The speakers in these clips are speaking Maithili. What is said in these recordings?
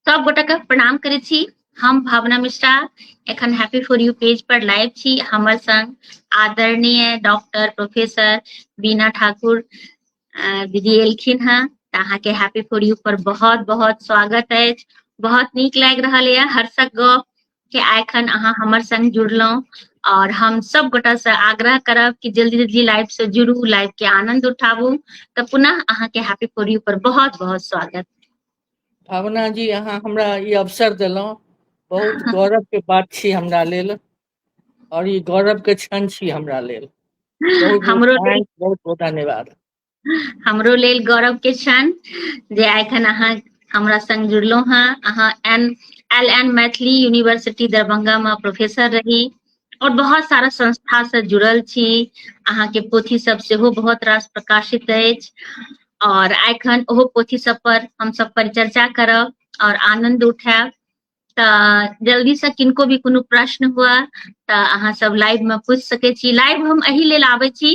सब गोटा के प्रणाम करे छी हम भावना मिश्रा एखन हैप्पी फॉर यू पेज पर लाइव छी हमर संग आदरणीय डॉक्टर प्रोफेसर बीना ठाकुर दीदी एलखिन हैं तऽ अहाँके हैप्पी फॉर यू पर बहुत बहुत स्वागत अछि बहुत नीक लागि रहल यऽ हर्षक गप के आइखन अहाँ हमर संग जुड़लहुँ और हम सब गोटा से आग्रह करब कि जल्दी जल्दी लाइव से जुड़ू लाइव के आनंद उठाबू तऽ पुनः अहाँ के हैप्पी फॉर यू पर बहुत बहुत स्वागत भावना जी अहाँ हमरा ई अवसर देलहुँ बहुत गौरव के बात छी हमरा लेल और ई गौरव के क्षण छी हमरा लेल बहुत बहुत हमरो thanks, बहुत बहुत धन्यवाद हमरो लेल गौरव के क्षण जे एखन अहाँ हमरा संग जुड़लहुँ हँ अहाँ N L N Maithili university Darbhanga में प्रोफेसर रही और बहुत सारा संस्था से जुड़ल छी अहाँ के पोथी सब सेहो बहुत रास प्रकाशित अछि और एखन ओहो पोथी सब पर हम सब परिचर्चा करब और आनंद उठायब तऽ जल्दी से किनको भी कोनो प्रश्न हुआ तऽ अहाँ सब लाइव में पूछ सके छी लाइव हम एहि लेल आबै छी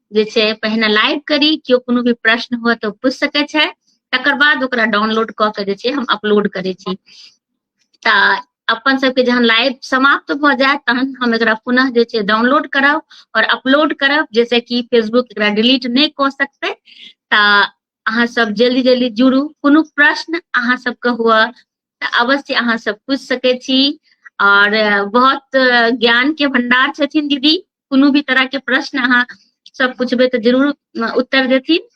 जे छै पहिने लाइव करी केओ कोनो भी प्रश्न हुए तऽ पूछि सकै छै तकर बाद ओकरा डाउनलोड कऽ के जे छै हम अपलोड करै छी तऽ अपन सबके जहन लाइव समाप्त भऽ जाय तहन हम एकरा पुनः जे छै डाउनलोड करब और अपलोड करब जैसे कि फेसबुक एकरा डिलीट नहि कऽ सकतै तऽ अहाँ सब जल्दी जल्दी जुड़ू कोनो प्रश्न अहाँ सबके हुए तऽ अवश्य अहाँ सब पूछि सकै छी और बहुत ज्ञान के भंडार छथिन दीदी कोनो भी तरह के प्रश्न अहाँ सब पूछबे तऽ जरूर उत्तर देथिन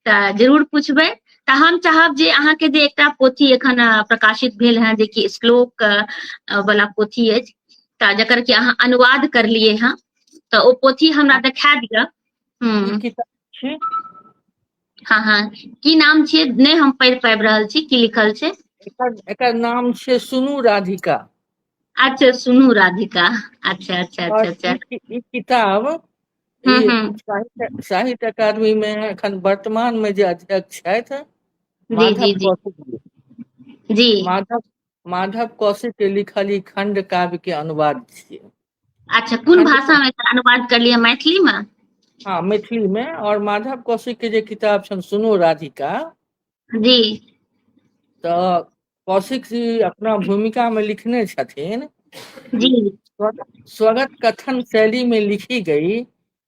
तऽ जरूर पूछबे तऽ हम चाहब जे अहाँके जे एकटा पोथी एखन प्रकाशित भेल है जेकि श्लोक वाला पोथी अछि तऽ जकर कि अहाँ अनुवाद करलिए हैं तऽ ओ पोथी हमरा देखा दिअ हम्म। हाँ हाँ की नाम छियै नहि हम पढ़ि पाबि रहल छी की लिखल छै एकर एकर नाम छै सुनू राधिका अच्छा सुनू राधिका अच्छा अच्छा अच्छा और अच्छा ई ई किताब हम्म, ई हम्म। साहित्य साहित्य अकादमी में एखन वर्तमान में जे अध्यक्ष छथि जी माधव जी जी कौशिक जी जी माधव माधव कौशिक के लिखल ई खंड काव्य के अनुवाद छियै अच्छा कोन भाषा में अनुवाद कर लिया मैथिली में हाँ मैथिली में और माधव कौशिक के जे किताब छन सुनो राधिका जी तो कौशिक जी अपना भूमिका में लिखने छथिन जी स्वगत कथन शैली में लिखी गई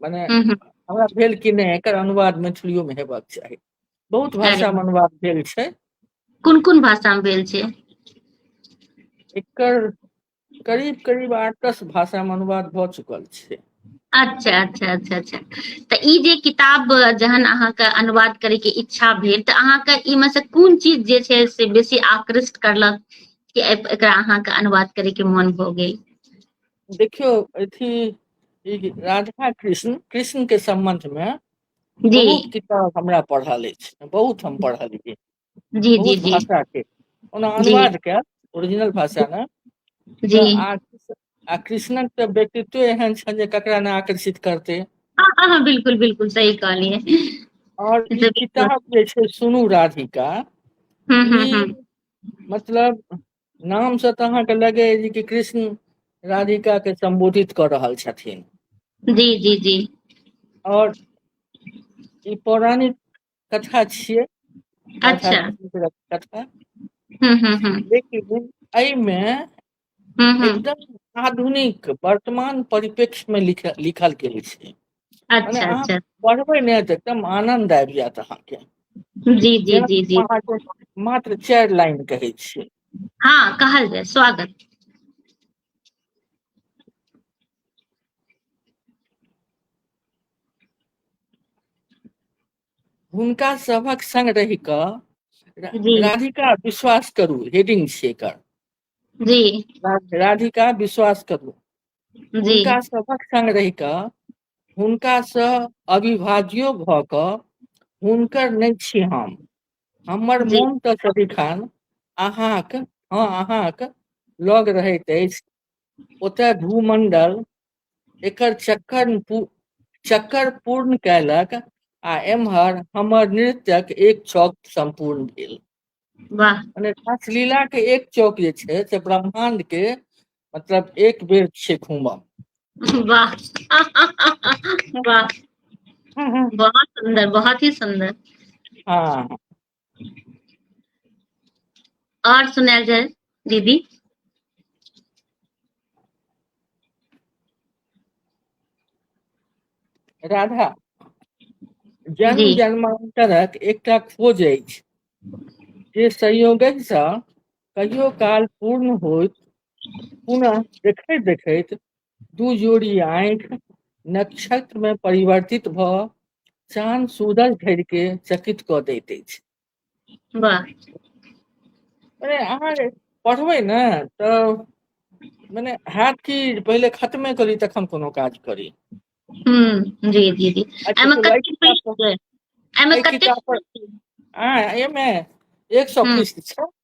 मने हमरा भेल कि नहि एकर अनुवाद मैथिलियो में हेबाक चाही बहुत भाषा में अनुवाद भेल छै कोन कोन भाषा में भेल छै एकर करीब करीब आठ दस भाषा में अनुवाद भ चुकल छै अच्छा अच्छा अच्छा अच्छा तऽ ई जे किताब जहन अहाँके अनुवाद करे के इच्छा भेल तऽ अहाँके ई में से कोन चीज जे छै से बेसी आकृष्ट करलक कि एकरा अहाँके अनुवाद करे के मन भऽ गेल देखियौ अथी ई राधा कृष्ण कृष्ण के संबंध में जी बहुत किताब हमरा पढ़ल अछि बहुत हम पढ़लियै जी जी बहुत जी भाषा के ओना जी अनुवाद के ओरिजिनल भाषा ने तऽ जी आ आ कृष्णक तऽ व्यक्तित्व एहन छनि जे ककरा ने आकर्षित करतै हाँ हाँ हाँ, बिल्कुल बिल्कुल सही कहलिए और ई जरूर किताब जे छै सुनू राधिका हम्म हम्म ई हम्म मतलब नाम से तऽ अहाँके लगे जे कि कृष्ण राधिका के संबोधित कर रहल छथिन जी जी जी और ई पौराणिक कथा छियै अच्छा कथा हम्म हम्म हम्म लेकिन एहिमे हम्म हम्म एकदम आधुनिक वर्तमान परिप्रेक्ष्य में लिखल लिखल गेल छै अच्छा अच्छा पढ़बै ने तऽ एकदम आनंद आबि जायत अहाँके जी जी जी जी मात्र चारि लाइन कहै छियै हँ कहल जाय स्वागत हुनका सभक संग रहि कऽ राधिका विश्वास करू हेडिंग छियै एकर जी राधिका विश्वास करू जी हुनका सभक संग रहि कऽ हुनकासँ अविभाज्यो भऽ कऽ हुनकर नहि छी हम हमर जी मोन तऽ सदिखन अहाँक हँ अहाँक लग रहैत अछि ओतय भूमंडल एकर चक्कर पू- चक्कर पूर्ण कयलक आ एम्हर हमर नृत्यक एक छौक सम्पूर्ण भेल वाह मने रासलीला के एक चौक जे छै से ब्रह्मांड के मतलब एक बेर छै घूमब वाह वाह बहुत सुंदर बहुत ही सुंदर हाँ और सुनायल जाए दीदी राधा जन्म जी। जन्मांतरक एकटा खोज अछि जे संयोगसँ कहियो काल पूर्ण होइत पुनः देखैत देखैत दू जोड़ी आँखि नक्षत्रमे परिवर्तित भऽ चान सूरज धरिके चकित कऽ दैत अछि मने अहाँ जे पढ़बै ने तऽ मने हैत कि पहिले खतमे करी तखन कोनो काज करी हम्म जी जी जी एमे कते पृष्ठ छै एमे कते एमे 100 पृष्ठ छै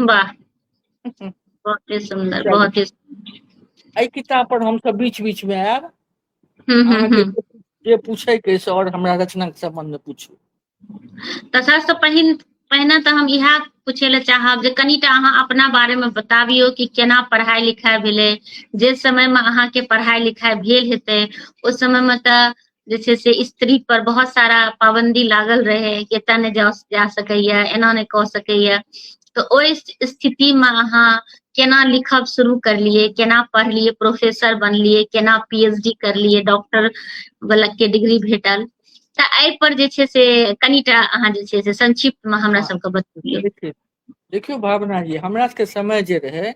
वाह बहुत ही सुंदर बहुत ही एहि किताब पर हम सब बीच बीच में आयब हम्म, हम्म, अहाँके हम्म। जे पूछे के से और हमरा रचना के संबंध में पूछू तऽ सबसँ पहिन पहिने तऽ हम इएह पूछे लए चाहब जे कनिटा अहाँ अपना बारे में बताबियो कि केना पढ़ाई लिखाई भेलै जे समय में अहाँके पढ़ाई लिखाई भेल हेतै ओहि समय में तऽ जे छै से स्त्री पर बहुत सारा पाबंदी लागल रहै कि एतय नहि जा जा सकैए एना नहि कऽ सकैए तऽ ओहि स्थितिमे अहाँ केना लिखब शुरू करलियै केना पढ़लियै प्रोफेसर बनलियै केना पी एच डी करलियै डॉक्टर वाला के डिग्री भेटल तऽ एहि पर जे छै से कनिटा अहाँ जे छै से संक्षिप्त मे हमरा सबके बतबियौ देखिए देखियौ भावना जी हमरा सबके समय जे रहै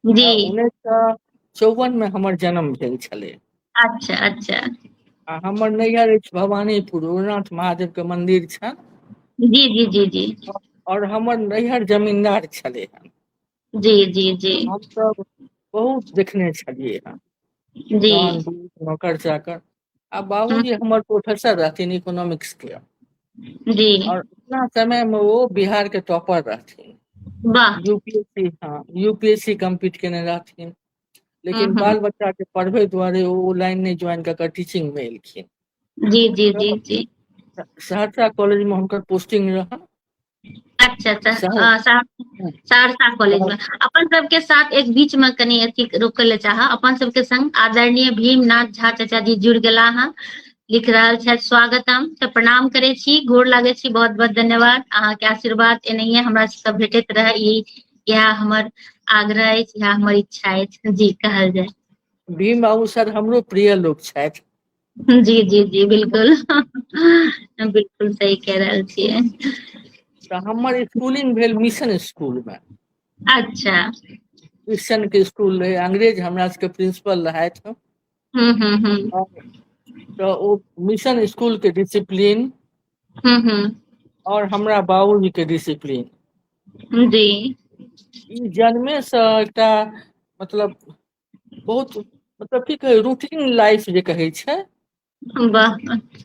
जी उन्नैस सए चौवन मे हमर जन्म भेल छलै अच्छा अच्छा आ हमर नैहर अछि भवानीपुर उग्रनाथ महादेव के मंदिर छनि जी जी जी जी और हमर नैहर जमींदार छलै हन जी जी जी हम सब बहुत देखने छलियै हन जी तहन दूध, नौकर चाकर आ बाबूजी हम्म। हमर प्रोफेसर रहथिन इकोनॉमिक्स के जी और अपना समय में वो बिहार के टॉपर रहथिन वाह यूपीएससी हाँ यूपीएससी कम्पीट केने रहथिन लेकिन हम्म। बाल बच्चा के पढ़बे दुआरे ओ ओ लाइन नहीं ज्वाइन कऽ कऽ टीचिंग में एलखिन जी जी जी जी सहरसा कॉलेज में हुनकर पोस्टिंग रहन अच्छा अच्छा सहरसा हँ सहरसा कॉलेज मे अपन सबके साथ एक बीच मे कनि अथी रोकय लए चाहब अपन सबके संग आदरणीय भीम नाथ झा चाचा जी जुड़ गेला हन लिख रहल छथि स्वागतम त प्रणाम करै छी गोर लागै छी बहुत बहुत धन्यवाद अहाँ के आशीर्वाद एनाहिये हमरा सब के भेटैत रहै ई इएह हमर आग्रह अछि इहे हमर इच्छा अछि जी कहल जाय भीम बाबू सर हमरो प्रिय लोक छथि जी जी जी बिलकुल बिलकुल सही कह रहल छियै तऽ हमर स्कूलिंग भेल मिशन स्कूल मे अच्छा क्रिश्चन के स्कूल रहै अंग्रेज हमरा सबके प्रिंसिपल रहथि हूँ हूँ हूँ तऽ ओ मिशन स्कूल के डिसिप्लीन हूँ हूँ आओर हमरा बाबूजी के डिसिप्लीन जी ई जन्मे सँ एकटा मतलब बहुत मतलब की कहे रूटीन लाइफ जे कहे छै वाह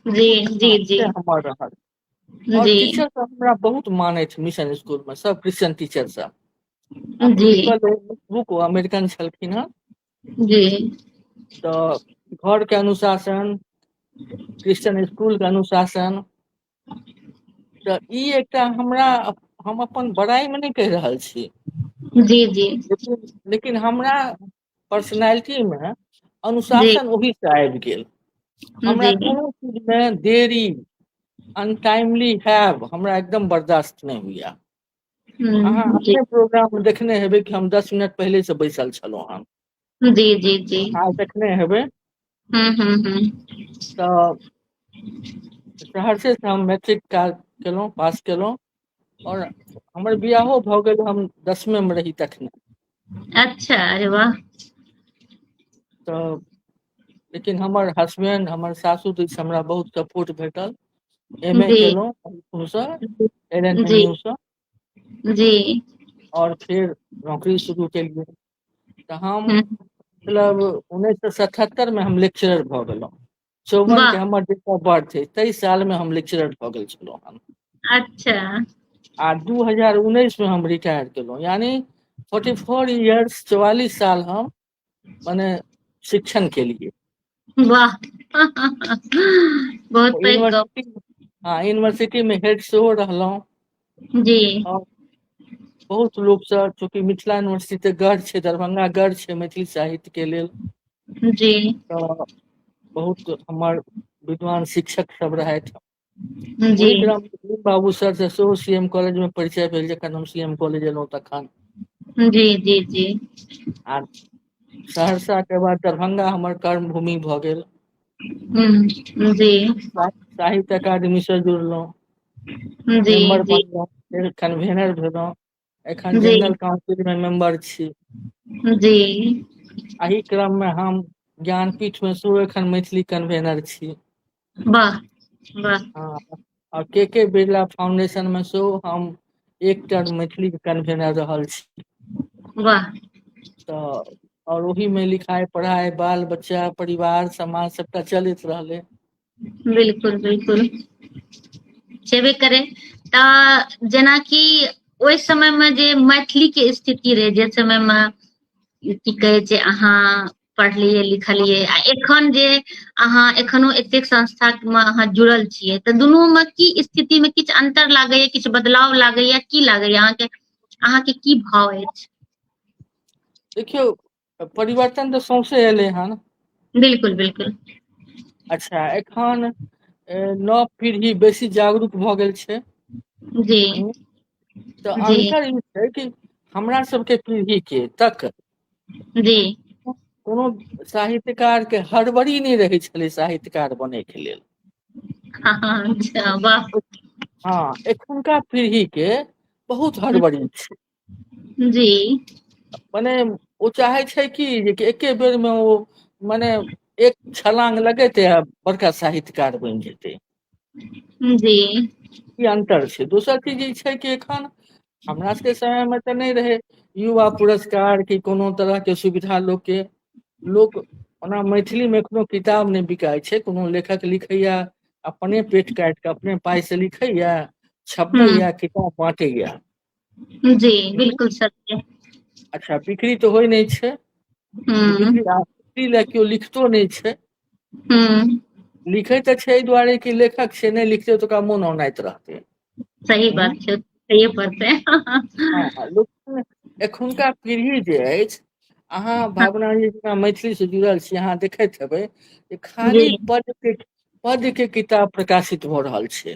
जी जी जी से हमर रहल और जी टीचर सब हमरा बहुत मानैत मिशन स्कूल में सब क्रिश्चियन टीचर सब आ जी प्रिंसिपल बुक अमेरिकन छलखिन हँ जी तऽ घर के अनुशासन क्रिश्चियन स्कूल के अनुशासन तऽ ई एकटा हमरा हम अपन बड़ाइ मे नहि कहि रहल छी जी जी लेकिन हमरा पर्सनलिटी मे जी अनुशासन ओहि सँ आबि गेल हमरा जी कोनो चीज मे देरी अनटाइमली हैब हमरा एकदम बर्दाश्त नहि होइए अहाँ ह जी अपने प्रोग्राम मे देखने हेबै कि हम दस मिनट पहिले से बैसल छलहुँ हन जी जी जी आ देखने हेबै हम्म हम्म हम्म तऽ सहरसेसँ हम मैट्रिक क केलहुँ पास केलहुँ आओर हमर बिआहो भऽ गेल हम दसमे मे रही तखने अच्छा अरे वाह तऽ लेकिन हमर हसबेंड हमर सासु जी से हमरा बहुत सपोर्ट भेटल एम ए जी केलहुँ ओहूसँ L N M G U सँ जी आओर फेर नौकरी शुरू केलियै तऽ हम हूँ मतलब उन्नैस सए सतहत्तर मे हम लेक्चरर भऽ गेलहुँ चौवन वाह के हमर डेट ऑफ बर्थ अछि ताहि साल मे हम लेक्चरर भऽ गेल छलहुँ हन अच्छा आ दू हजार उन्नैस मे हम रिटायर केलहुँ यानि फोर्टी फोर इयर्स चौआलिस साल हम मने शिक्षण केलियै वाह बहुत पैघ गप हाँ यूनिवर्सिटी में हेड सेहो रहलहुँ जी बहुत लोग से चूंकि मिथिला यूनिवर्सिटी ते गढ़ छे दरभंगा गढ़ छे मैथिली साहित्य के लेल जी तो बहुत हमार विद्वान शिक्षक सब रहथि जी ओहि ग्राम बाबू सर से सेहो सी एम कॉलेज मे परिचय भेल जखन हम सी एम कॉलेज एलहुँ तखन जी जी जी आ सहरसा के बाद दरभंगा हमर कर्म भूमि भऽ गेल हूँ जी साहित्य अकादमी से जुड़लहुँ जी मेम्बर जी बनलहुँ फेर कन्वीनर भेलहुँ एखन जी जेनरल काउंसिल मे मेम्बर छी जी एहि क्रम मे हम ज्ञानपीठ मे सेहो एखन मैथिली कन्वेनर छी वाह वाह आ के के बिरला फाउंडेशन मे सेहो हम एकटा मैथिली कन्वेनर रहल छी वाह तऽ आओर ओहिमे लिखाइ पढ़ाइ बाल बच्चा परिवार समाज सभटा चलैत रहलै बिलकुल बिलकुल छेबे करै तऽ जेनाकि ओहि समय मे जे मैथिली के स्थिति रहै जे समय मे की कहै छै अहाँ पढ़लियै लिखलियै आ एखन जे अहाँ एखनो एतेक संस्था मे अहाँ जुड़ल छियै तऽ दुनू मे की स्थिति मे किछु अन्तर लागैए किछु बदलाव लागैए की लागैए अहाँके अहाँके की भाव अछि देखियौ परिवर्तन तऽ सौंसे एलै हन बिल्कुल बिल्कुल अच्छा एखन नव पीढ़ी बेसी जागरूक भऽ गेल छै जी हूँ तऽ जी अन्तर ई छै कि हमरा सबके पीढ़ी के तक जी कोनो साहित्यकार के हड़बड़ी नहि रहै छलै साहित्यकार बनै के लेल हँ हँ अच्छा वाह हँ एखुनका पीढ़ी के बहुत हड़बड़ी छै जी मने ओ चाहै छै कि जे एके बेर मे ओ मने एक छलांग लगेते आ बड़का साहित्यकार बनि जेतै जी ई अन्तर छै दोसर चीज ई छै कि एखन हमरा सबके समय मे तऽ नहि रहै युवा पुरस्कार की कोनो तरह के सुविधा लोक के लोक ओना मैथिली मे एखनो किताब नहि बिकाइ छै कोनो लेखक लिखैया अपने पेट काटि कऽ अपने पाइ से लिखैया छपबै हूँ या किताब बाँटैया जी बिलकुल सत्य अच्छा बिक्री तऽ होइ नहि छै हूँ बिक्री आ बिक्री लए केओ लिखतो नहि छै हूँ लिखै तऽ छै एहि दुआरे कि लेखक छै नहि लिखतै तऽ ओकरा मोन औनाइत रहतै सही हूँ बात छै सहिए पड़तै हँ लेकिन एखुनका पीढ़ी जे अछि अहाँ हँ भावना जी जेना मैथिली से जुड़ल छी अहाँ देखैत हेबै जे जी खाली पद पद के किताब प्रकाशित भऽ रहल छै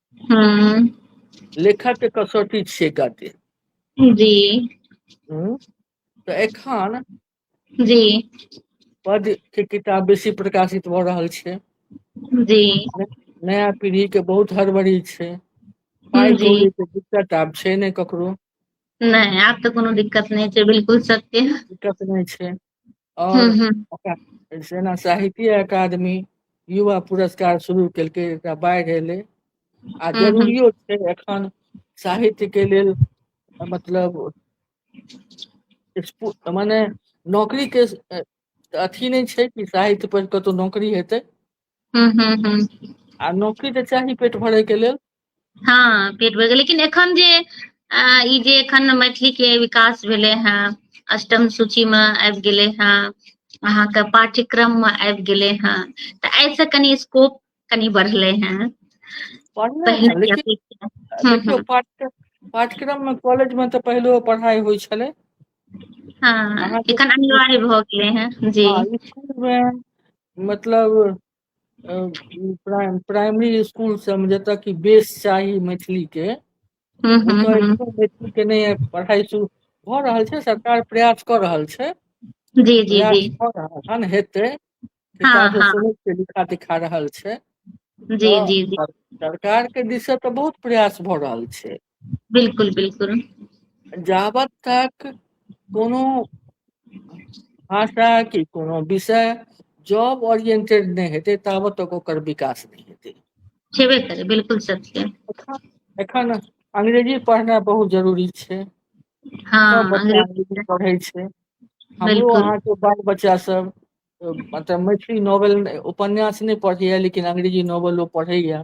हम्म। लेखक के कसौटी छियै गद्य जी हम्म? तऽ एखन जी पद के किताब बेसी प्रकाशित भऽ रहल छै जी नया पीढ़ी के बहुत हड़बड़ी छै पाइ जी कौड़ी के दिक्कत आब छै ने ककरो नहि आब तऽ कोनो दिक्कत नहि छै बिलकुल सत्य दिक्कत नहि छै और हम्म, हम्म। ओकरा सेना साहित्य अकादमी युवा पुरस्कार शुरू केलकै एकरा बाढ़ि एलै आ हम्म, जरूरियो छै एखन साहित्य के लेल मतलब स्पु- माने नौकरी के अ, अथी नहि छै कि साहित्य पर कतौ नौकरी हेतै हूँ हूँ हूँ आ नौकरी तऽ चाही पेट भरे के लेल हँ पेट भर गेल लेकिन एखन जे अ ई जे एखन मैथिली के विकास भेले हे अष्टम सूची मे आबि गेले हे अहाँके पाठ्यक्रम मे आबि गेले हेँ तऽ एहिसँ कनि स्कोप कनि बढ़लै हेँ पढ़ले पहिने हैं के लेकिन अपेक्षा हूँ देखियौ हूँ पाठ पाठ्यक्रम मे कॉलेज मे तऽ पहिले पढ़ाई होइ छलै हँ अहाँके एखन स्कुल अनिवार्य भऽ गेलै हेँ जी हँ इसकुलमे मतलब प्राइम प्राइमरी स्कूल सब मे जतय की बेस चाही मैथिली के हूँ ओ हूँ तऽ हूँ एखनो मैथिल के नहि पढ़ाइ शुरू भऽ रहल छै सरकार प्रयास कऽ रहल छै जी जी जी प्रयास कऽ रहल हन हेतै हँ किताब हँ सुनै छियै लिखा देखा रहल छै जी तऽ जी जी सरकारके दिस सँ तऽ बहुत प्रयास भऽ रहल छै बिल्कुल बिल्कुल जाबत तक कोनो भाषा कि कोनो विषय जॉब ओरिएंटेड नहि हेतै ताबत तक ओकर विकास नहि हेतै छेबे करे बिल्कुल सत्य एखन अंग्रेजी पढ़नाइ बहुत जरूरी छै हाँ, बच्चा अंग्रेजी पढ़ै छै हमरो अहाँके बाल बच्चा सब मतलब मैथिली नॉवल उपन्यास नहि पढ़ैया लेकिन अंग्रेजी नॉवलो पढ़ैया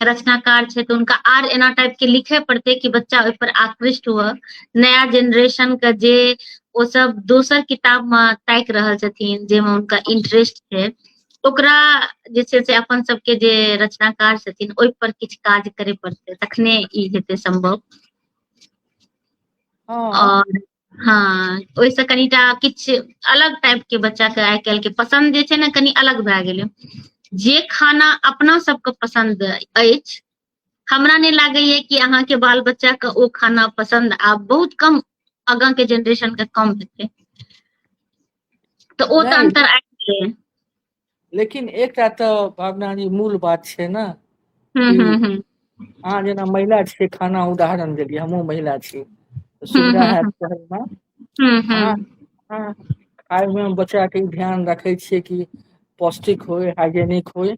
रचनाकार छै तऽ हुनका आर एना टाइप के लिखे पड़ते कि बच्चा ओहि पर आकृष्ट हुए नया जेनरेशन के जे ओ सब दोसर किताब मे ताकि रहल छथिन जाहिमे हुनका इंटरेस्ट छै ओकरा जे छै से अपन सबके जे रचनाकार छथिन ओहि पर किछु काज करे पड़ते तखने ई हेतै संभव हँ और हँ ओहिसँ कनिटा किछु अलग टाइप के बच्चा के आइ काल्हि के पसन्द जे छै ने कनि अलग भए गेलै जे खाना अपना सबके पसन्द अछि हमरा नहि लागैए कि अहाँके बाल बच्चाके ओ खाना पसन्द आब बहुत कम आगाँके जेनरेशनके कम हेतै तऽ ओ तऽ अन्तर आबि गेलै लेकिन एकटा तऽ भावना जी मूल बात छै ने हम्म, कि हम्म, हम्म, अहाँ जेना महिला छियै खाना उदाहरण देलियै हमहूँ महिला छी तऽ सुविधा हम्म, हैत कहैमे हम्म, अहाँ हम्म, अहाँ खायमे बच्चाके ई ध्यान रखै छियै कि पौष्टिक होय हाइजेनिक होय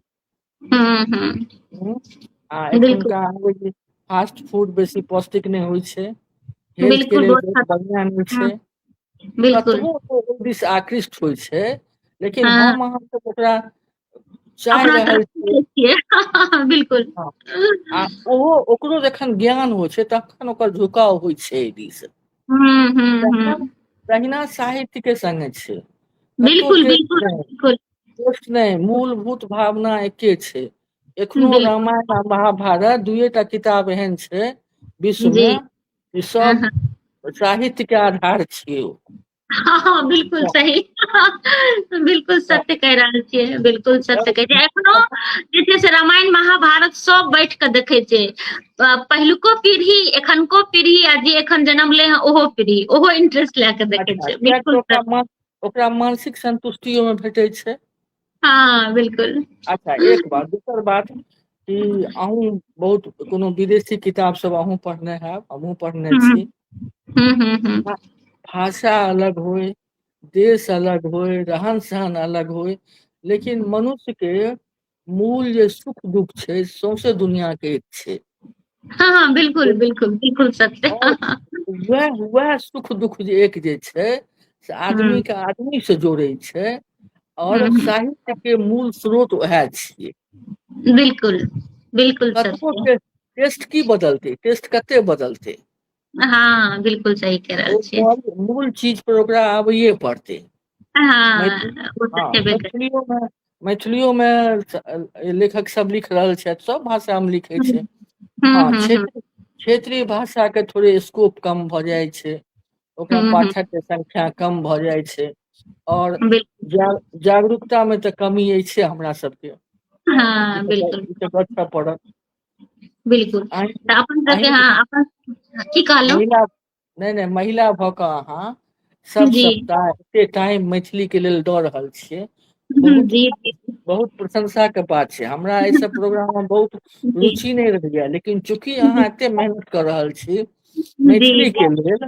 हम्म, हम्म, हूँ आ बिल्कुल एखुनका अबै जे फास्ट फूड बेसी पौष्टिक नहि होइ छै हेल्थ के बिल्कुल लेल बहुत बहुत खराब बढ़िया नहि हम्म, छै बिल्कुल दिस आकृष्ट होइ छै लेकिन हाँ। हम अहाँ सब ओकरा चाह रहल छियै बिल्कुल हाँ। आ ओहो ओकरो जखन ज्ञान होइ छै तखन ओकर झुकाव होइ छै एहि दिस हम्म, हम्म, हम्म। तहिना साहित्य के संगे छै बिल्कुल बिल्कुल बिल्कुल नहि मूलभूत भावना एके छै एखनो रामायण आ महाभारत दुएटा किताब एहन छै विश्व मे ई सब हँ, साहित्य के आधार छियै ओ हँ हँ बिल्कुल सही बिल्कुल सत्य कहि रहल छियै बिल्कुल सत्य कहै छै एखनो जे छै से रामायण महाभारत सब बैठ कऽ देखै छै अ, पहिलुको पीढ़ी एखनको पीढ़ी आ जे एखन जन्म ले हैं ओहो पीढ़ी ओहो इंटरेस्ट लए कऽ देखै अच्छा छै किया तऽ बिल्कुल ओकरा सत्य मन ओकरा मानसिक संतुष्टि ओहिमे भेटै छै हँ बिलकुल अच्छा एक बात दोसर बात कि अहूँ बहुत कोनो विदेशी किताब सब अहूँ पढ़ने हैब हमहुँ पढ़ने हूँ छी हूँ हूँ हूँ भाषा अलग होइ देश अलग होइ रहन सहन अलग होइ लेकिन मनुष्य के मूल जे सुख दुःख छै सौसे दुनिया के एक छै हाँ हाँ बिल्कुल बिल्कुल बिल्कुल सत्य और वह वह सुख दुख जे एक जे छै से आदमी हम्म। के आदमी से जोड़े छै और हम्म। साहित्य के मूल स्रोत वह छिए बिल्कुल बिल्कुल कतबो सत्य टे- टेस्ट की बदलते टेस्ट कते बदलते हँ बिलकुल सही कह रहल छियै मूल चीज पर ओकरा आबैए पड़तै हँ ओ तऽ छेबे करै मैथिलियो मे लेखक सब लिख रहल छथि सब भाषा मे लिख हूँ छै हूँ हँ हूँ हूँ क्षेत्र क्षेत्रीय भाषा के थोड़े स्कोप कम भऽ जाइ छै ओकरा हूँ हूँ पाठक के संख्या कम भऽ जाइ छै आओर बिलकुल जा सही जागरूकता मे तऽ कमी अछिये हमरा सबके हँ ई तऽ ई तऽ गछ पड़त बिलकुल एहन तऽ अपन सबके एहन हँ अपन की कहलहुँ महिला नहि नहि महिला भऽ कऽ अहाँ सब जी सप्ताह एते टाइम मैथिली के लेल दऽ रहल छियै हम्म, बहुत जी जी बहुत प्रशंसा के बात छै हमरा एहि सब प्रोग्राम मे बहुत जी रुचि नहि रहैया लेकिन चूँकि अहाँ एते मेहनत कऽ रहल छी जी मैथिली के लेल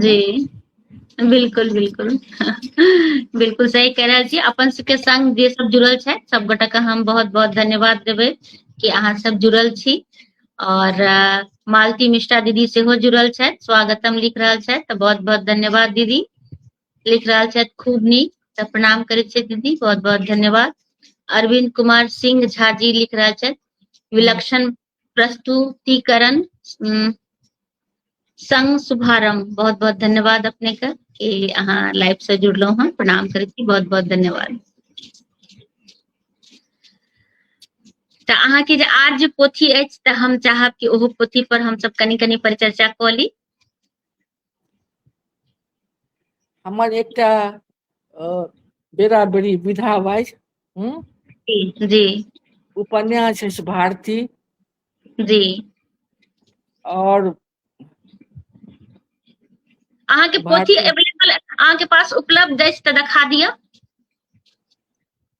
जी बिलकुल बिलकुल बिलकुल सही कह रहल छी अपन सबके संग जे सब जुड़ल छै सबगोटा के हम बहुत बहुत धन्यवाद देबै कि अहाँ सब जुड़ल छी और मालती मिश्रा दीदी सेहो जुड़ल छथि स्वागतम लिख रहल छथि तऽ बहुत बहुत धन्यवाद दीदी लिख रहल छथि खूब नीक तऽ प्रणाम करै छियै दीदी बहुत बहुत धन्यवाद अरविंद कुमार सिंह झा जी लिख रहल छथि विलक्षण प्रस्तुतिकरण संग शुभारंभ बहुत बहुत धन्यवाद अपने का कि अहाँ लाइव से जुड़लहुँ हँ प्रणाम करै छी बहुत बहुत धन्यवाद तऽ अहाँके जे आर जे पोथी अछि तऽ हम चाहब कि ओहो पोथी पर हमसब कनि कनि परिचर्चा कऽ ली हमर एकटा बेरा बेरी विधा बाज जी उपन्यास अछि भारती जी और अहाँ के पोथी अवेलेबल अहाँ के पास उपलब्ध अछि तऽ देखा दिअ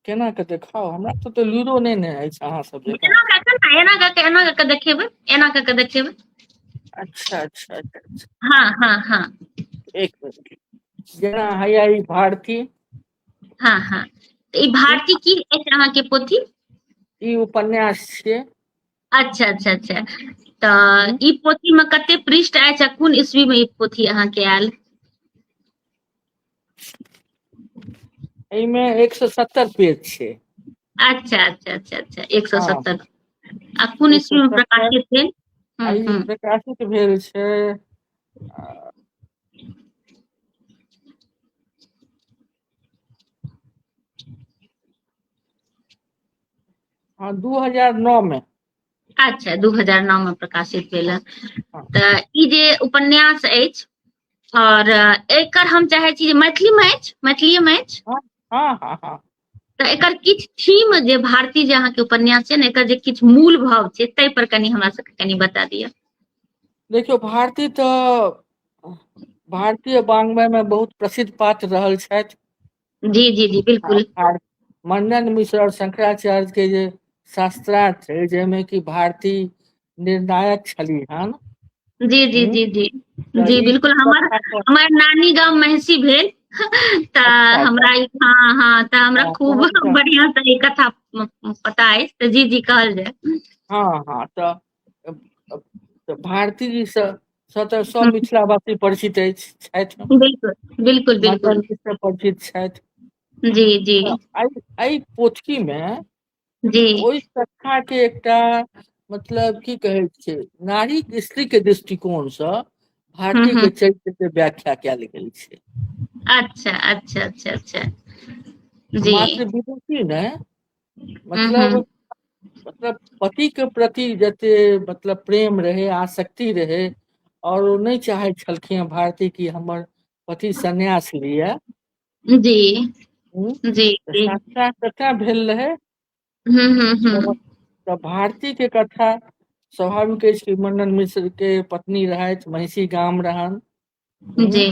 केना के देखाओ हमरा तो तो लूरो नहीं ने है अहाँ सब जका एना कऽ कऽ ने एना कऽ कऽ एना कऽ कऽ देखेबै एना कऽ कऽ देखेबै अच्छा अच्छा अच्छा अच्छा। हाँ हाँ हाँ एक मिनट जेना हैया ई भारती हाँ हाँ तऽ ई भारती की अछि अहाँके पोथी ई उपन्यास छियै अच्छा अच्छा अच्छा तऽ ई पोथी में कते पृष्ठ अछि आ कोन ईस्वी में ई पोथी अहाँ के आयल एहिमे एक सौ सत्तर पेज छै अच्छा अच्छा अच्छा अच्छा एक सौ सत्तर आ कोन ईस्वी में प्रकाशित भेल प्रकाशित भेल छै हाँ, दू हजार नौ में अच्छा दू हजार नौ में प्रकाशित भेल हँ। हाँ। तऽ ई जे उपन्यास अछि और अ, एकर हम चाहे छी जे मैथिली में अछि मैथिली में अछि हाँ हाँ हाँ तऽ एकर किछु थीम जे भारतीय जे अहाँके उपन्यास छै ने एकर जे किछु मूल भाव छै ताहि पर कनि हमरा सबके कनि बता दिअ देखियौ भारती तऽ भारतीय बांग्मय मे बहुत प्रसिद्ध पात्र रहल छथि जी जी जी बिल्कुल आर मण्डन मिश्र आओर शंकराचार्य के जे शास्त्रार्थ छै जाहिमे कि भारती निर्णायक छली हन जी जी जी जी तऽ जी ई बिल्कुल हमर कथा पर- हमर नानी गाम महिषी भेल तऽ अच्छा। हमरा ई- हाँ हाँ तऽ हमरा हाँ, खूब समझ गए। बढ़िया से ई कथा म- पता अछि तऽ जी जी कहल जाय हाँ हाँ तऽ तऽ भारती जी से तऽ सब हम्म। मिथिला वासी परिचित अछि छथि बिल्कुल बिल्कुल बिल्कुल से परिचित छथि जी जी एहि पोथी मे जी ओहि कथा के एकटा मतलब की कहै छै नारी स्त्री के दृष्टिकोण से हम्म भारतीय के हम्म चरित्र के व्याख्या कयल गेल छै अच्छा अच्छा अच्छा अच्छा जी मात्र विभूति नहि मतलब मतलब पति के प्रति जते मतलब प्रेम रहे आसक्ति रहे और ओ नहि चाहे छलखिन भारती की हमर पति संन्यास लिए जी हम्म। जी साक्षात कथा भेल रहे हम्म, हम्म, हम्म। तऽ भारती के कथा स्वाभाविक अछि कि मंडन मिश्र के पत्नी रहथि महिषी गाम रहन जी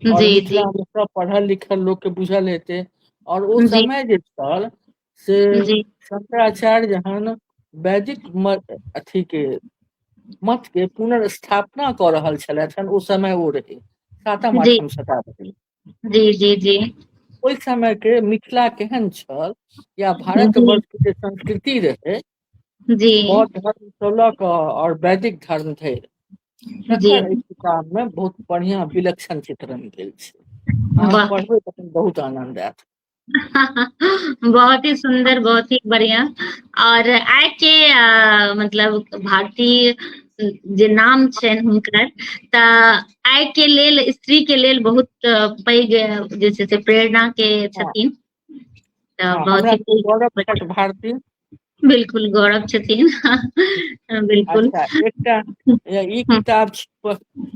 आओर जी जी मिथिलामे सब पढ़ल लिखल लोकके बुझल हेतै आओर ओ जी समय जे छल से जी शंकराचार्य जहन वैदिक म अथी के मठ के पुनर्स्थापना कऽ रहल छलथि हेन ओ समय ओ रहै सातम जी आठम शताब्दी जी जी जी ओहि समय के मिथिला केहन छल या भारत जी वर्ष के जे संस्कृति रहै जी बौद्ध धर्म स लऽ कऽ आओर वैदिक धर्म धरि जी जकर एहि किताब मे बहुत बढ़िया विलक्षण चित्रण भेल छै अहाँ वाह पढ़बै तखन बहुत आनंद आयत बहुत ही सुन्दर बहुत ही बढ़िया आओर आइ के अ मतलब भारतीय जे नाम छनि हुनकर तऽ आइ के लेल स्त्री के लेल बहुत पैघ जे छै से प्रेरणा के हँ छथिन हँ, बहुत हमरा ही सबके गौरव छथि नीक भारती बिलकुल गौरव छथिन बिलकुल अच्छा एकटा ई हँ, किताब छी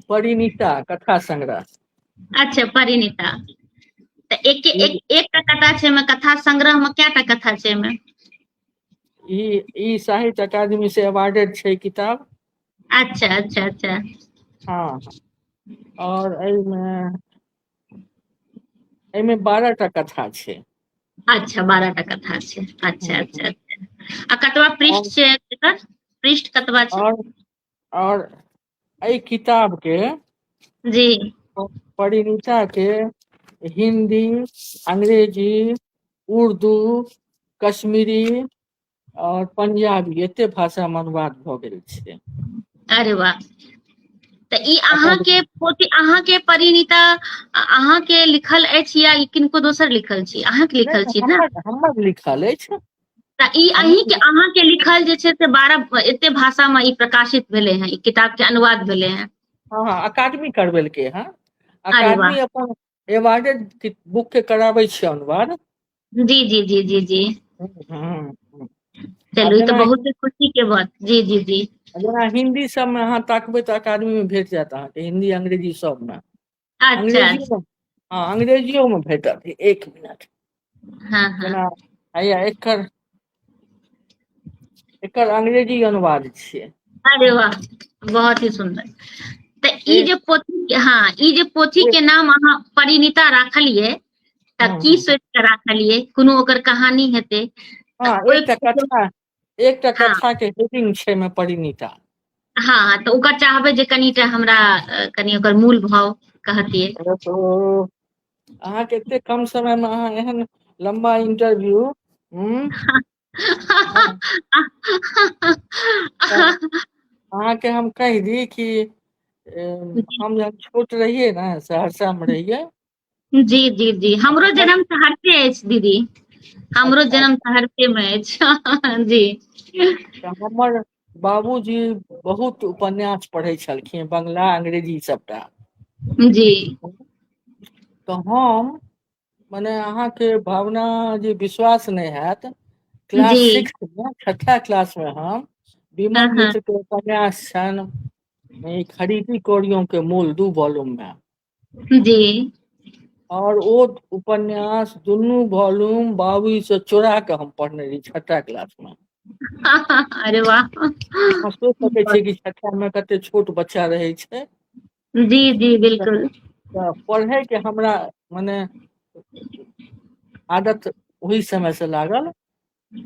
परिणीता कथा संग्रह अच्छा परिणीता तऽ एक ई एक एकटा कथा छै एहिमे कथा संग्रह मे कयटा कथा छै एहिमे ई ई साहित्य अकादमी से अवार्डेड छै किताब अच्छा अच्छा अच्छा हँ आओर एहिमे एहिमे बारह टा कथा छै अच्छा बारह टा कथा छै अच्छा हम्म। अच्छा अच्छा आ कतबा पृष्ठ छै एकर पृष्ठ कतबा छै और और एहि किताब के जी परिणीता के हिंदी अंग्रेजी उर्दू कश्मीरी आओर पंजाबी एते भाषा मे अनुवाद भऽ गेल छै अरे वाह तऽ ई अपन अहाँके पोती अहाँके परिणीता अहाँके लिखल अछि या ई किनको दोसर लिखल छी अहाँके नहि लिखल नहि छी ने हमर हमर लिखल अछि तऽ ई हमर अहीं के लिखल अहाँ के लिखल जे छै से बारह एते भाषा में ई प्रकाशित भेले हैं ई किताब के अनुवाद भेले हैं हँ हँ अकादमी करबेलकै हँ अरे वाह अकादमी अपन एवार्डेड बुक के कराबै छी अनुवाद जी जी जी जी जी चलू ई तऽ बहुत खुशी के बात जी जी जी जेना हिंदी सब में अहाँ ताकबै तऽ अकादमी में भेट जायत अहाँके हिंदी अंग्रेजी सब में अच्छा अंग्रेजियो में भेटत एक मिनट हाँ हाँ जेना हैया एकर एकर अंग्रेजी अनुवाद छियै अरे वाह बहुत ही सुंदर तो ई जे पोथी हाँ ई जे पोथी के नाम अहाँ परिणीता राखलिए त हाँ। की सोच के राखलिए कोनो ओकर कहानी हेतै हाँ एकटा कथा एकटा हँ कथा के हेडिंग छै में परिणीता हँ हँ तऽ ओकर चाहबै जे कनिटा हमरा अ, कनि ओकर मूल भाव कहतियै अरे तो अहाँके एते कम समय में अहाँ एहन लंबा इंटरव्यू हम्म हँ, तऽ अहाँके हम कहि दी कि एम, हम जब छोट रहियै ने सहरसा में रहियै जी जी जी हमरो जन्म सहरसे अछि दीदी हमरो अच्छा। जन्म सहरसे मे अछि जी अच्छा, हमर बाबूजी बहुत उपन्यास पढ़ै छलखिन बंगला अंग्रेजी सबटा जी तऽ हम मने अहाँके भावना जे विश्वास नहि हेएत क्लास जी सिक्स मे छठा क्लास मे हम हँ विमल हँ मित्र के उपन्यास छनि ई खरीदी कोरियों के मोल दू बॉलूम मे जी आओर ओ उपन्यास दुनू वॉल्यूम बाबी से चोरा के हम पढ़ने रही छठा क्लास मे अरे वाह अहाँ सोचि सकै छियै कि छठा मे कते छोट बच्चा रहै छै जी जी बिल्कुल तऽ पढ़े के हमरा मने आदत ओहि समय से लागल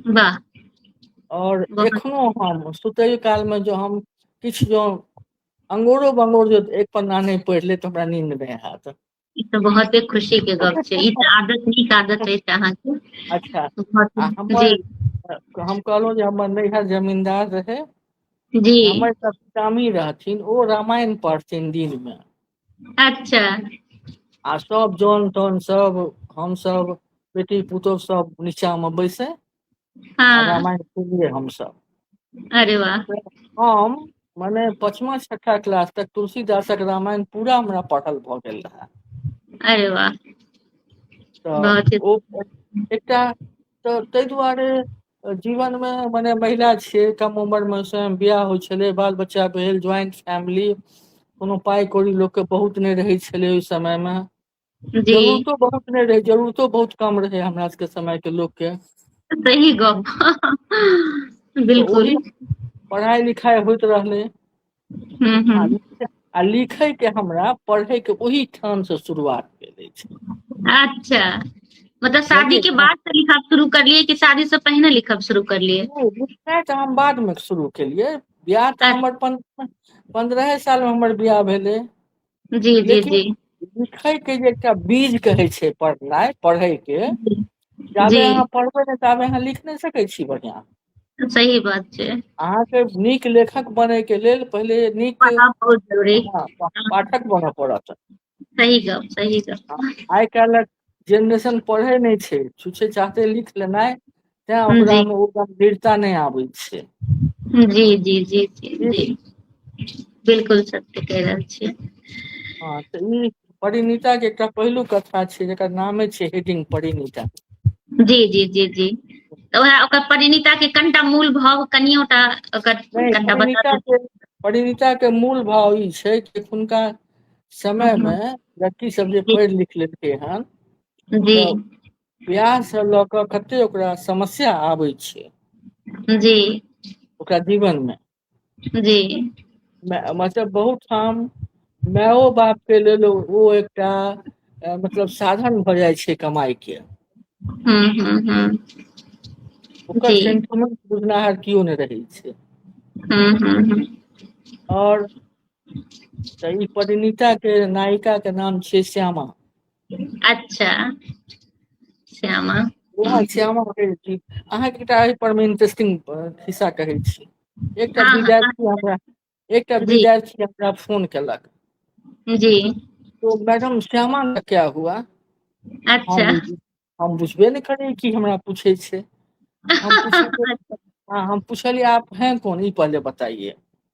वाह और एखनो हम सुतय काल में जो हम किछ जो अंगोरो बंगोर जो एक पन्ना नहीं पढ़ ले तो हमरा नींद में हाथ ई तऽ बहुते खुशी के गप छै ई तऽ आदत नीक आदत अछि अहाँके अच्छा हमर हम कहलहुँ जे हमर नैहर जमींदार रहे जी हमर सब कामी रहथिन ओ रामायण पढ़थिन दिन में अच्छा आ सब जन तन सब हम सब बेटी पुतोह सब नीचा में बैसे आ हाँ रामायण सुनिए हम सब अरे वाह तऽ हम मने पचमा छठा क्लास तक तुलसीदासक रामायण पूरा हमरा पढ़ल भऽ गेल रहए अरे वाह तऽ बहुत ही ओ एकटा तऽ ताहि दुआरे जीवन मे मने महिला छियै कम उमर मे स्वयं बियाह होइ छलै बाल बच्चा भेल ज्वाइंट फैमिली कोनो पाइ कौड़ी लोक के बहुत नहि रहै छलै ओहि समय मे जी जरूरतो बहुत नहि रहै जरूरतो बहुत कम रहै हमरा सबके समय के लोक के सही गप तऽ बिलकुल ओहि पढ़ाइ लिखाइ होइत रहलै हूँ हूँ आ आ लिखै के हमरा पढ़ै के ओहि ठाम से शुरुआत भेल अछि अच्छा मतलब शादी बुझलियै के ने बाद से लिखब शुरू करलियै कि शादी से पहिने लिखब शुरू करलियै नहि लिखनाइ तऽ हम बाद मे शुरू केलियै बियाह तऽ हमर अच्छा प पन्द्रहे साल मे हमर बियाह भेलै जी जी लेकिन जी लिखै के जे एकटा बीज कहै छै पढ़नाइ पढ़ै के जी जाबे जी अहाँ पढ़बै ने ताबे अहाँ लिख नहि सकै छी बढ़ियाँ सही बात छै अहाँके नीक लेखक बने के लेल पहिले नीक पढ़ाइ बहुत जरूरी हँ पाठक बनऽ पड़त सही गप सही गप आइ काल्हिक जेनरेशन पढ़े नहि छै छुछे चाहते लिख लेनाइ तैं ओकरा जी मे ओ गंभीरता नहि आबै छै जी जी जी जी ठीक जी बिलकुल सत्य कहि रहल छियै हँ तऽ ई परिणीता के एकटा पहिलु कथा छै जेकर नामे छै हिडिंग परिणीता जी जी जी जी तऽ उएह ओकर परिणीता के कनिटा मूल भाव कनियोटा ओकर कनिटा बता परिणीता के मूल भाव ई छै कि हुनका समय मे लड़की सब जे पढ़ि लिख लेलकै हन जी बियाह से लऽ कऽ कते ओकरा समस्या आबै छै जी ओकरा जीवन मे जी मतलब बहुत ठाम मायो बाप के लेल ओ एकटा मतलब साधन भऽ जाइ छै कमाइ के हू हू हू ओकर सेंटिमेंट बुझनाहर केओ नहि रहै छै हू हू हू आओर तऽ ई परिणीता के नायिका के नाम छियै श्यामा अच्छा श्यामा वएह श्यामा कहै छी अहाँके एकटा एहि पर मे इंटरेस्टिंग खिस्सा कहै छी एकटा हँ हँ विद्यार्थी हमरा एकटा जी विद्यार्थी हमरा फोन केलक जी तो मैडम श्यामा का क्या हुआ अच्छा हम हम बुझबे नहि करियै की हमरा पूछै छै हम पुछलियै अच्छा हँ हम पुछलियै आप हैं कौन ई पहले बताइए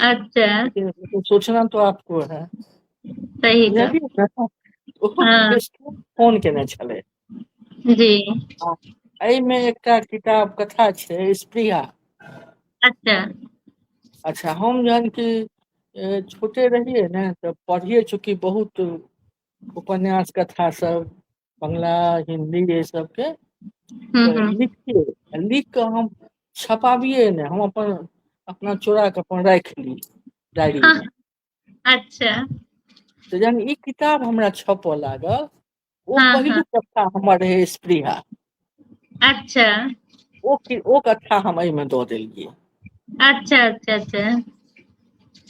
अच्छा तो सोचना तो आपको है सही हाँ। फोन केने छले जी एहिमे एकटा किताब कथा छै स्प्रिया अच्छा अच्छा हम जहन कि छोटे रहिए ने तो पढ़िए चूँकि बहुत उपन्यास कथा सब बंगला हिन्दी एहि सबके हूँ तऽ हूँ लिख के लिख कऽ हम छपाबियै ने हम अपन अपना चोरा के अपन राख ली डायरी हँ मे अच्छा तऽ जहन ई किताब हमरा छपय लागल ओ हँ हँ पहिलुक कक्षा हमर रहै स्पृहा अच्छा ओ ओ कक्षा हम एहिमे दऽ देलियै अच्छा अच्छा अच्छा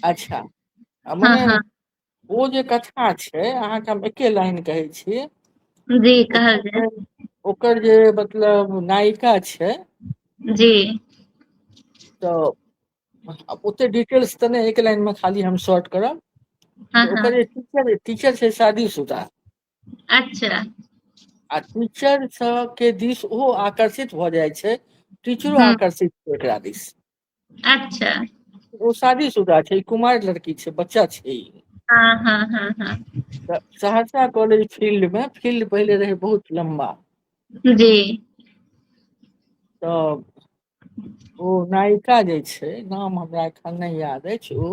अच्छा आ हँ मने हँ ओ जे कथा छै अहाँके हम एके लाइन कहै छी जी कहल जाय ओकर जे मतलब नायिका छै जी तऽ ओते डिटेल्स तऽ नहि एक लाइन मे खाली हम शॉर्ट करब हँ तऽ हँ ओकर जे टीचर टीचर छै शादी सुदा अच्छा आ टीचर सब के दिस ओहो आकर्षित भऽ जाइ छै टीचरो हूँ आकर्षित एकरा दिस अच्छा ओ शादी सुधा छै कुमारि लड़की छै बच्चा छै हँ हँ हँ हँ तऽ सहरसा कॉलेज फील्ड मे फील्ड पहिले रहै बहुत लम्बा जी तऽ ओ नायिका जे छै नाम हमरा एखन नहि याद अछि ओ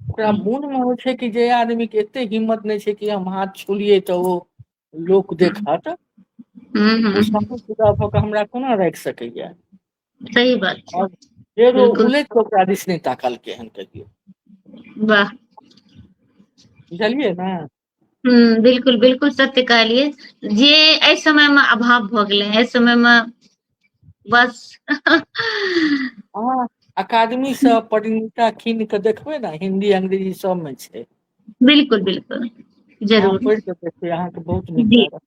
ओकरा हूँ मोन मे होइ छै कि जे आदमी के एते हिम्मत नहि छै कि हम हाथ छोलियै तऽ ओ लोक हूँ देखत हूँ ओ हूँ सामने खड़ा भऽ कऽ हमरा कोना राखि सकैया सही बात छै आओर फेर ओ बिलकुल उलटि कऽ ओकरा दिस नहि ताकलकै हन कहियो वाह बुझलियै ने हम्म, बिल्कुल बिल्कुल सत्य कहलियै जे एहि समय मे अभाव भऽ गेलै एहि समय मे बस अहाँ अकादमी सँ परिणीता कीन कऽ देखबै ने हिन्दी अंग्रेजी सबमे छै बिल्कुल बिल्कुल अहाँ जरूर पढ़ि कऽ देखबै अहाँके बहुत नीक जी लागत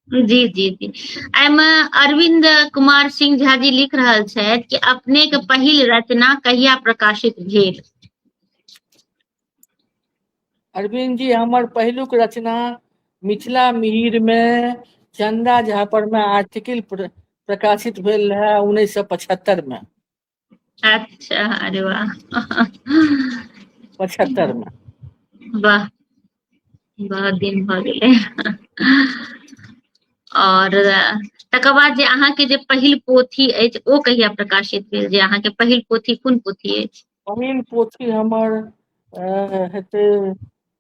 जी जी जी एहिमे अरविंद कुमार सिंह झा जी लिख रहल छथि कि अपने के पहिल रचना कहिया प्रकाशित भेल अरविंद जी हमर पहिलुक रचना मिथिला मिहिर मे चंदा झा पर में आर्टिकल प्रकाशित भेल रहे उन्नैस सए पचहत्तर में अच्छा अरे वाह पचहत्तर मे वाह बहुत दिन भऽ गेलै आओर तकर बाद जे अहाँके जे पहिल पोथी अछि ओ कहिया प्रकाशित भेल जे अहाँके पहिल पोथी कोन पोथी अछि पहिल पोथी हमर हेतै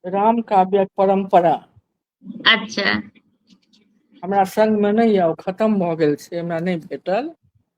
राम काव्य्यक परम्परा अच्छा हमरा संगमे नहि यए ओ खतम भऽ गेल छै हमरा नहि भेटल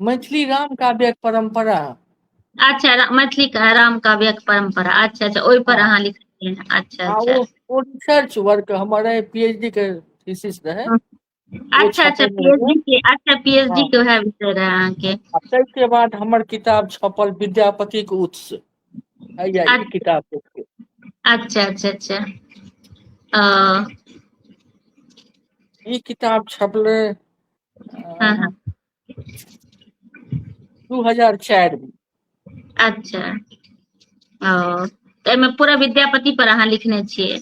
मैथिली राम काव्यक परम्परा अच्छा रा- मैथिली का राम काव्यक परंपरा अच्छा अच्छा ओहि पर अहाँ लिखलियै हन। अच्छा आ अच्छा ओ ओ रिसर्च वर्क हमर रहै पीएचडी के थीसिस रहै अच्छा अच्छा छपेने रहै। पीएचडी के अच्छा पीएचडी हाँ। के वएह विषय रहे अहाँके आ ताहिके बाद हमर किताब छपल विद्यापतिक उत्स हैया ई अच्छा। किताब देखियौ अच्छा अच्छा अच्छा अ, ई किताब छपलै हाँ हाँ दू हजार चारि मे अच्छा ओ तऽ एहिमे पूरा विद्यापति पर अहाँ लिखने छियै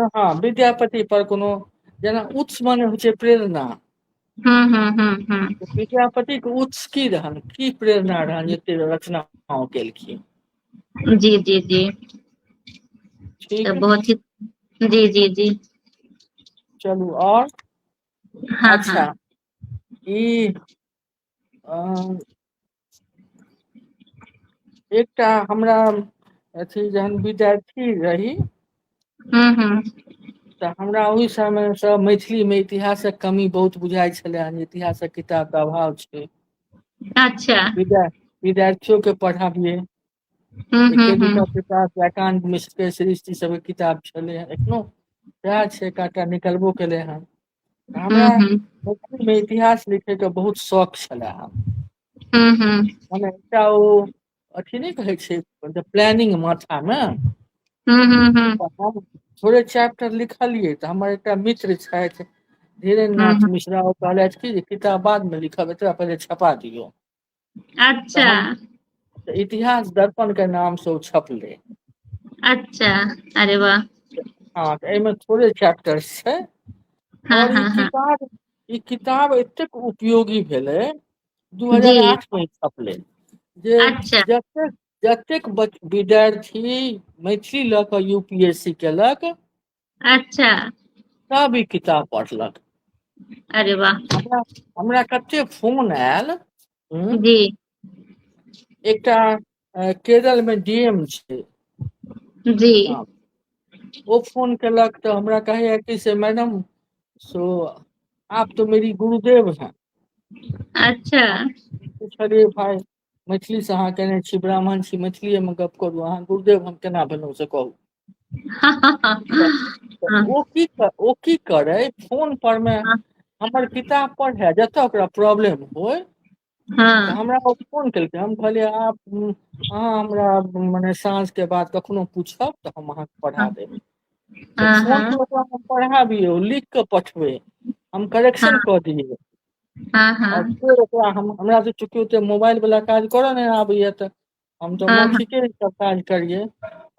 हाँ विद्यापति पर कोनो जेना उत्स माने होइ छै प्रेरणा हम्म हम्म हम्म हम्म तऽ विद्यापति के उत्स की रहन की प्रेरणा रहन एते रचना ओ केलखिन जी जी जी तऽ ठीक बहुत ही जी जी जी चलू आओर हँ हँ अच्छा ई अ एकटा हमरा अथी जहन विद्यार्थी रही हँ हँ तऽ हमरा ओहि समय सँ मैथिली मे इतिहासक कमी बहुत बुझाइत छले हेन इतिहासक किताब के अभाव छै अच्छा विद्यार्थियो के पढ़ाबियै हम्म, एके हम्म, दूटा हम्म। किताब छै एकांत मिश्र के सृष्टि सब के किताब छले हैं एखनो सएह छै एकटा निकलबो केले हैं हमरा हम्म, हम्म, मैथिली मे इतिहास लिखे के बहुत शौक छले हे हम्म, हम्म, मने एकटा ओ अथी नहि कहै छै मतलब प्लानिंग माथा मे हम्म, हम्म, हम्म, तऽ हम थोड़े चैप्टर लिखलियै तऽ हमर एकटा मित्र छथि धीरेन्द्र हम्म, नाथ मिश्रा ओ कहलथि कि जे किताब बाद मे लिखब एकरा पहिले छपा दियौ अच्छा तहन इतिहास दर्पण के नाम से ओ छपलै अच्छा अरे वाह हँ तऽ एहिमे थोड़े चैप्टर छै हँ आओर ई हँ हँ किताब ई किताब एतेक उपयोगी भेलै दू जी हजार आठ मे छपलै जे अच्छा जतेक जतेक विद्यार्थी मैथिली लऽ कऽ यू पी एस सी केलक अच्छा सब ई किताब पढ़लक अरे वाह हमरा हमरा कते फोन आयल हम्म, जी एकटा अ, केरल में डीएम छै जी हँ, ओ फोन केलक तऽ हमरा कहैया कि से मैडम सो आप तो मेरी गुरुदेव हैं अच्छा पूछलिए भाई मैथिली से अहाँ केने छी ब्राह्मण छी मैथिलीए में गप करू अहाँ गुरुदेव हम केना भेलहुँ से कहू ओ की ओ की करे फोन पर में हमर किताब पढ़े जतऽ ओकरा प्रॉब्लम होय तऽ हँ हमरा ओ फोन केलकै हम कहलियै आब अहाँ हमरा मने साँझ के बाद कखनो पूछब तऽ हम अहाँके पढ़ा देब तऽ हँ फोन हँ पर ओकरा पढ़ाबी ओ लिख कऽ पठबै हम करेक्शन हँ कऽ दियै हँ हँ ओकरा हम हमरा त चूँकि ओते मोबाइल वला काज करऽ नहि आबैया तऽ हम तऽ हँ हँ मौखिके क काज करियै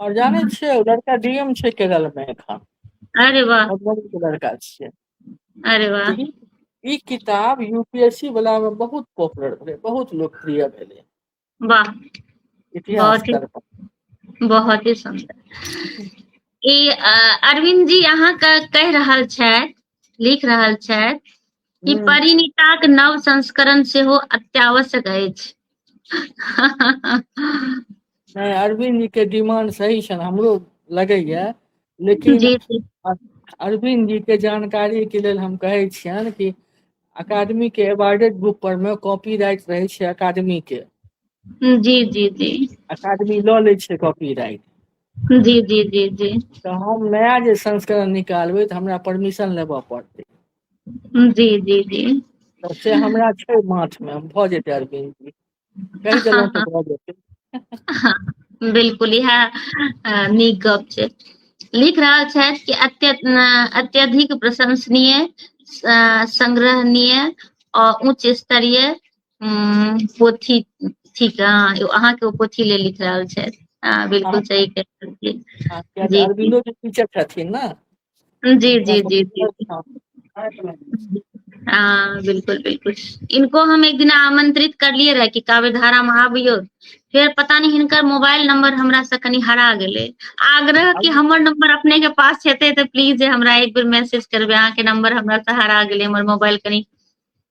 आओर जानै हँ छियै ओ लड़का डी एम छै केरल मे एखन अरे वाह मधुबनी के लड़का छियै अरे वाह तऽ ई ई किताब यू पी एस सी वला मे बहुत पॉपुलर भेलै बहुत लोकप्रिय भेलै वाह इतिहास बहुत ही करता बहुत ही सुंदर ई अ, अरविंद जी अहाँके कहि रहल छथि लिख रहल छथि कि हम्म। परिणीताक नव संस्करण सेहो अत्यावश्यक अछि नहि अरविंद जी के डिमांड सही छनि हमरो लगैया लेकिन जी जी अरविंद जी के जानकारी के लेल हम कहै छियनि कि अकादमी के एवार्डेड बुक पर में कॉपी राइट रहे छै अकादमी के जी जी जी अकादमी लऽ लै छै कॉपी राइट जी जी जी जी तऽ हम नया जे संस्करण निकालबै तऽ हमरा परमिशन लेबऽ पड़तै जी जी जी तऽ से हमरा छै माथ मे भऽ जेतै अरविंद जी बिल्कुल इएह नीक गप छै लिख रहल छथि कि अत्यधिक प्रशंसनीय संग्रहणीय और उच्च स्तरीय पोथी ठीक अहाँ के पोथी ले लिख रहल छथि बिल्कुल सही कहलियै जी अरविंदो जी टीचर छथिन ना जी जी जी जी हँ बिलकुल बिलकुल इनको हम एक दिना आमंत्रित करलियै रहए कि काव्य धारा मे आबियौ फेर पता नहि हिनकर मोबाइल नम्बर हमरा से कनि हरा गेलै आग्रह कि हमर नम्बर अपने के पास हेतै तऽ प्लीज जे हमरा एक बेर मैसेज करबै अहाँके नम्बर हमरा से हरा गेलै हमर मोबाइल कनि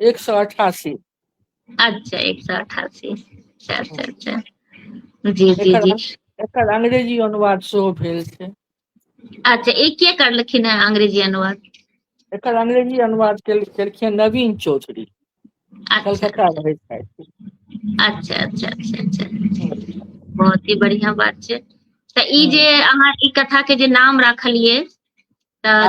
एक सौ अठासी अच्छा एक सौ अठासी अच्छा अच्छा अच्छा जी जी जी एकर अंग्रेजी अनुवाद सेहो भेल छै अच्छा एक के करलखिन है अंग्रेजी अनुवाद एकर अंग्रेजी अनुवाद केलखिन नवीन चौधरी अच्छा। कलकत्ता रहै छथि अच्छा अच्छा अच्छा अच्छा बहुत ही बढ़िया बात छै तऽ ई जे अहाँ ई कथा के जे नाम राखलिए तऽ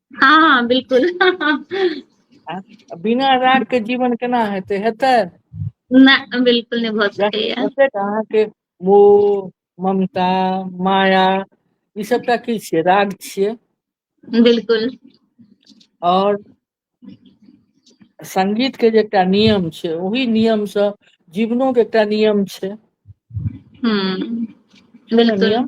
हँ हँ बिलकुल आ बिना राग के जीवन केना हेतै हेतै नहि बिलकुल नहि भऽ सकैया जतेक अहाँके मो ममता माया ई सबटा की छियै राग छियै बिलकुल आओर संगीत के जे एकटा नियम छै ओहि नियम सँ जीवनो के एकटा नियम छै हूँ छै ने बिलकुल नियम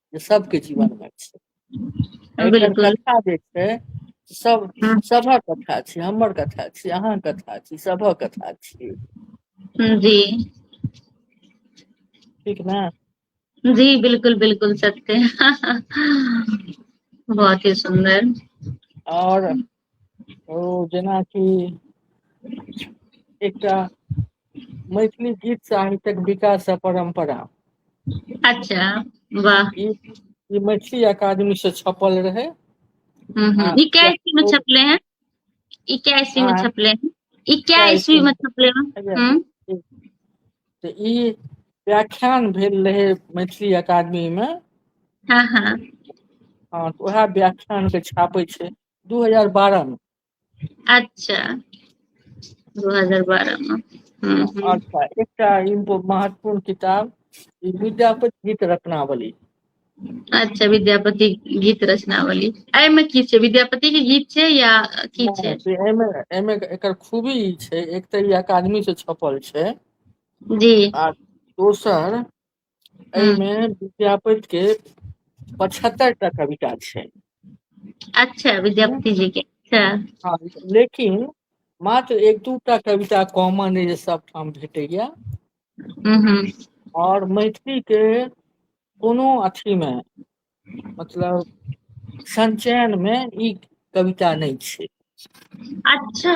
जे सबके जीवन मे छै एहिठाम बिलकुल कथा जे छै सब ह सभक कथा छी हमर कथा छी अहाँ कथा छी सभक कथा छी जी ठीक ने जी बिलकुल बिलकुल सत्य बहुत ही सुन्दर आओर ओ जेनाकि एकटा मैथिली गीत साहित्यक विकास आ परम्परा अच्छा वाह ई ई मैथिली अकादमी से छपल रहै हूँ हूँ आ ई कै एकरा ईस्वी में ओ छपले हैं ई कै ईस्वी में आ छपले हैं ई कै कै ईस्वी में छपले हैं अच्छा हूँ ठीक तऽ ई व्याख्यान भेल रहै मैथिली अकादमी मे हँ हँ हँ तऽ उएह व्याख्यान के छापै छै दू हजार बारह मे अच्छा दू हजार बारह मे हूँ हूँ अच्छा एकटा इम्पो महत्वपूर्ण किताब ई विद्यापति गीत रत्नावली अच्छा विद्यापति गीत रचनावली एहिमे की छै विद्यापति के गीत छै या की छै हँ, से एहिमे एहिमे एकर खूबी ई छै एक तऽ ई अकादमी से छपल छै जी आ दोसर हूँ एहिमे विद्यापति के पचहत्तर टा कविता छै अच्छा विद्यापति जी के अच्छा हँ, लेकिन मात्र एक दू टा कविता कॉमन अइ जे सबठाम भेटैया हम्म, हम्म, और मैथिली के कोनो अथी में मतलब संचयन मे ई कविता नहि छै अच्छा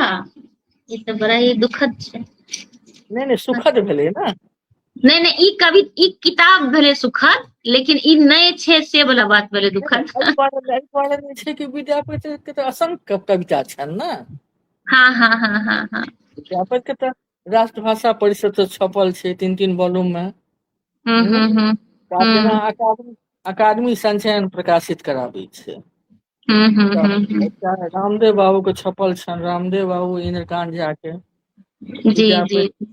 ई तऽ बड़ा ही दुखद छै नहि नहि सुखद भेलै ने नहि नहि ई कवि ई किताब भेलै सुखद लेकिन ई नहि छै से वाला बात भेलै दुखद एहि दुआरे एहि दुआरे नहि छै कि विद्यापति के तऽ असंख्य कविता छनि ने हँ हँ हँ हँ हँ विद्यापति के तऽ राष्ट्रभाषा परिषद से छपल छै तीन तीन वॉल्यूम में हम्म, हम्म, हम्म, हम्म, तऽ हम्म, जेना अकादमी अकादमी संचयन प्रकाशित कराबै छै हम्म, हम्म, तऽ हम्म, हम्म। एकटा रामदेव बाबू के छपल छनि रामदेव बाबू इंद्रकांत झा के जी जी विद्यापति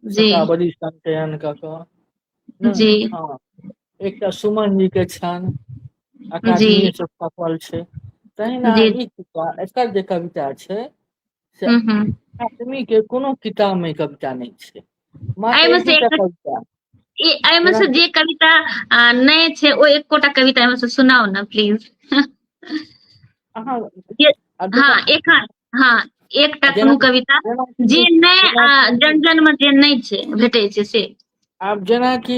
जी शतावरी संचयन कऽ कऽ ने जी हँ एकटा सुमन जी के छनि जी अकादमीए से छपल छै तहिना जी ई एकर जे कविता छै से आदमी के कोनो किताब में कविता नहीं छै एहिमे से कविता एहिमे से जे कविता नहि छै ओ एकोटा कविता एहिमे से सुनाउ ने प्लीज हाँ एखन हाँ एकटा कोनो कविता जे नहि जन जन में जे नहि छै भेटै छै से आब जेनाकि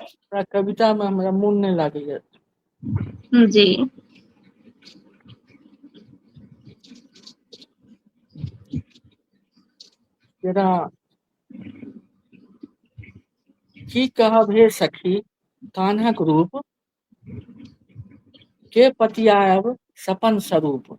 हमरा कविता मे हमरा मोन नहि लागैया जी जेना की कहब हे सखी कान्हक रूप के पतियायब सपन स्वरूप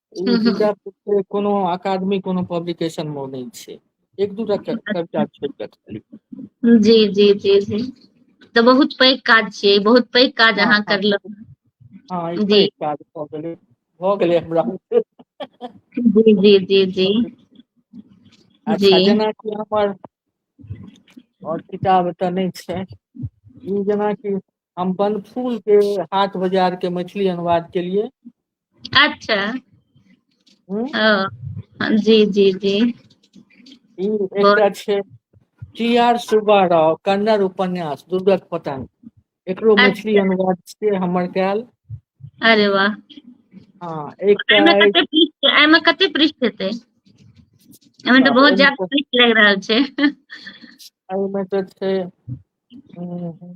ओ विचार से कोनो अकादमी कोनो पब्लिकेशन मे नहि छै एक दूटा कविता छोड़ि कऽ खाली जी जी जी जी तऽ बहुत पैघ काज छियै बहुत पैघ काज हँ, अहाँ हँ। करलहुँ हँ ई जी। पैघ काज भऽ गेलै भऽ गेलै हमरा जी जी जी जी अच्छा जी जेनाकि हमर आओर किताब एतऽ नहि छै ई जेनाकि हम बनफूल के हाट बाजार के मैथिली अनुवाद के लिए अच्छा हम्म? ओ, जी जी जी ई एकटा छै टी आर सुब्बा राव कन्नड़ उपन्यास दुर्गक पतन एकरो मैथिली अनुवाद से हमर कयल अरे वाह हाँ एकटा एहिमे अछि- कते पृष्ठ एहिमे कते पृष्ठ हेतै एहिमे तऽ बहुत ज्यादा पृष्ठ लागि रहल छै एहिमे तऽ छै हम्म,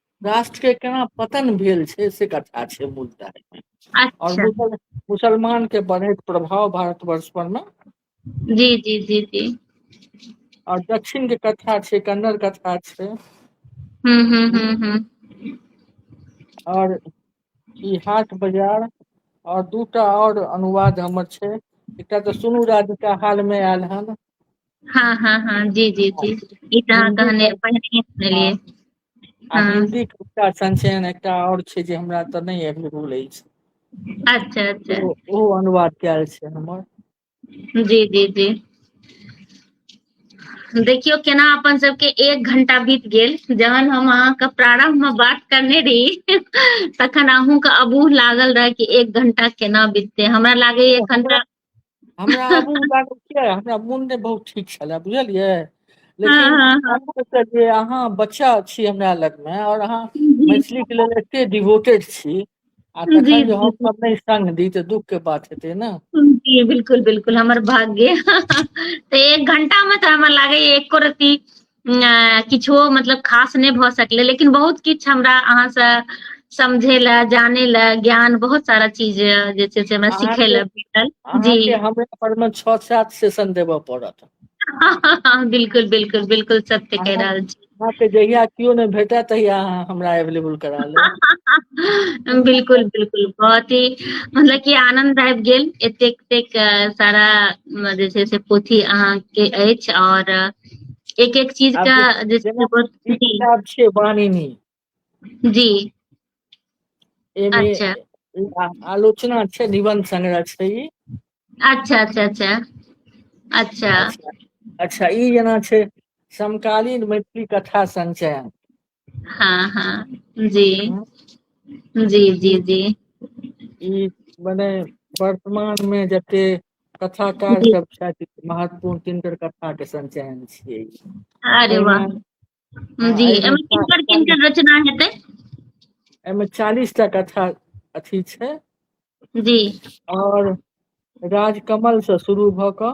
राष्ट्र के केना पतन भेल छै से कथा छै मुद्दा एहिमे। और अच्छा मुसल मुसलमान के बढ़ैत प्रभाव भारतवर्ष पर मे जी जी जी जी और दक्षिण के कथा छै कन्नड़ कथा छै। हूँ हूँ हूँ हूँ और ई हाट बाजार और दूटा और अनुवाद हमर छै एकटा तऽ सुनू राधिका हाल मे आयल हन। हँ हँ हँ जी जी जी ई तऽ अहाँ हिन्दी कहने मे पहिनहिये हँ सुनलियै। आ हँ हिन्दी के एकटा संचयन एकटा आओर छै जे हमरा तऽ नहि एभेलेबुल अछि अच्छा अच्छा ओ ओ अनुवाद कयल छै हमर जी जी जी देखियौ केना अपन सबके एक घंटा बीत गेल जहन हम अहाँके प्रारंभ मे बात करने रहि तखन अहूँके अबूह लागल रहै कि एक घंटा केना बिततै हमरा लागैया एखन हमरा तऽ हमरा आगू जागू किया हमरा मोन नहि बहुत ठीक छलै बुझलियै लेकिन हाँ, हाँ, जे अहाँ बच्चा छी हमरा लगमे आओर अहाँ मैथिलीके लेल एते डिवोटेड छी आ तखन जी, जे हम जी, सब नहि संग दी तऽ दुख के बात हेतै ने जी बिल्कुल बिल्कुल हमर भाग्य तऽ एक घंटा मे तऽ हमरा लागैया एको रती किछो मतलब खास नहि भऽ सकलै लेकिन बहुत किछु हमरा अहाँसँ समझे ला जाने ला ज्ञान बहुत सारा चीज जे छै से हमरा सीखे ला भेटल जी हमरा पर मे छओ सात सेशन देबऽ पड़त बिल्कुल बिल्कुल बिल्कुल सत्य कह रहल छी अहाँके जहिया केओ नहि भेटय तहिया अहाँ हमरा अवेलेबल करा लेब बिल्कुल बिल्कुल बहुत ही मतलब कि आनंद आबि गेल एतेक एतेक सारा जे छै से पोथी अहाँके अछि आओर एक एक चीज का जैसे बानिनी जी अच्छा आलोचना अच्छा निबंध संग्रह छै ई अच्छा अच्छा अच्छा अच्छा अच्छा ई जेना छै समकालीन मैथिली कथा संचयन हाँ हाँ जी हँ जी जी ई जी ई मने वर्तमान मे जते कथाकार जी सब छथि महत्वपूर्ण तिनकर कथा के संचयन छियै ई अरे वाह एहिमे हँ जी एहिमे एमे चा- किनकर चालीस किनकर रचना हेतै एहिमे चालीस टा कथा अथी छै जी आओर राजकमल से शुरू भऽ कऽ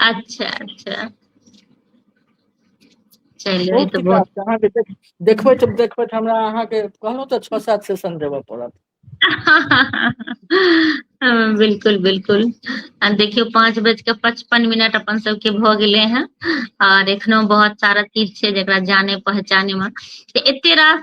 अच्छा अच्छा चलियौ ई बहुत तऽ किताब छै अहाँके देख देखबै तऽ देखबै तऽ हमरा अहाँके कहलहुँ तऽ छओ सात सेशन देबऽ पड़त हँ बिलकुल बिलकुल आ देखियौ पाँच बज कऽ पचपन मिनट अपन सबके भऽ गेले हें आर एखनो बहुत सारा चीज छै जेकरा जाने पहचाने मे तऽ एते रास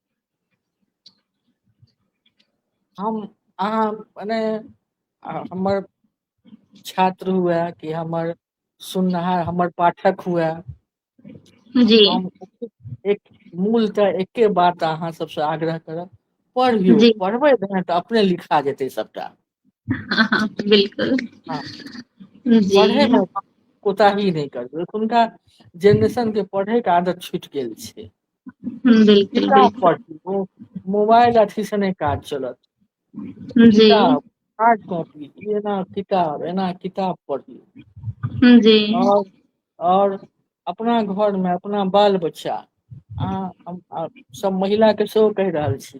हम अहाँ मने हमर छात्र हुए कि हमर सुननिहार हमर पाठक हुए जी हम एक मूल तऽ एके बात अहाँ सबसँ आग्रह करब पढ़ियौ जी पढ़बै तहन तऽ अपने लिखा जेतै सभटा बिलकुल हँ जी पढ़ैमे कोताही नहि करबै एखुनका जेनरेशन के पढ़े के आदत छुटि गेल छै बिलकुल किताब बिलकुल पढ़ू ओ मोबाइल अथी स नहि काज चलत जी किताब हार्ड कॉपी एना किताब एना किताब पढ़ू जी आओर आओर अपना घरमे अपना बाल बच्चा अहाँ हम सब महिला के सेहो कहि रहल छी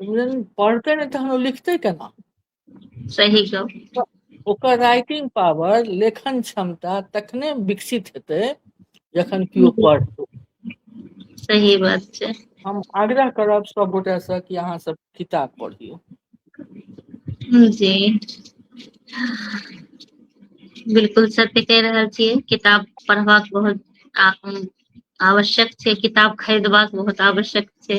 इंग्लैंड पढ़ते नहीं तहन वो लिखते केना सही गप ओकर राइटिंग पावर लेखन क्षमता तखने विकसित हेतै जखन केओ पढ़तै सही बात छै हम आग्रह करब सब गोटा से कि अहाँ सब किताब पढ़ियो जी बिल्कुल सत्य कह रहल छियै किताब पढ़बाक बहुत आ- आवश्यक छै किताब खरीदबाक बहुत आवश्यक छै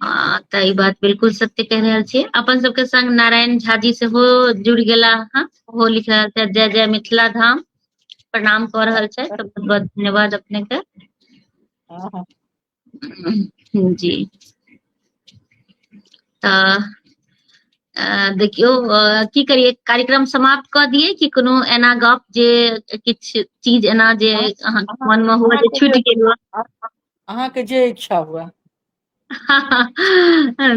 हँ तऽ ई बात बिलकुल सत्य कहि रहल छियै अपन सबके संग नारायण झा जी सेहो जुड़ गेला हँ ओहो लिख रहल छैथ जय जय मिथिला धाम प्रणाम कऽ रहल छैथ तऽ बहुत बहुत धन्यवाद अपने के हँ हँ जी तऽ अ देखियौ अ की करियै कार्यक्रम समाप्त कऽ दियै कि कोनो एना गप जे किछ चीज एना जे अहाँ अहाँके मोन मे हुए अहाँ जे छुटि गेल हुए अहाँके जे इच्छा हुए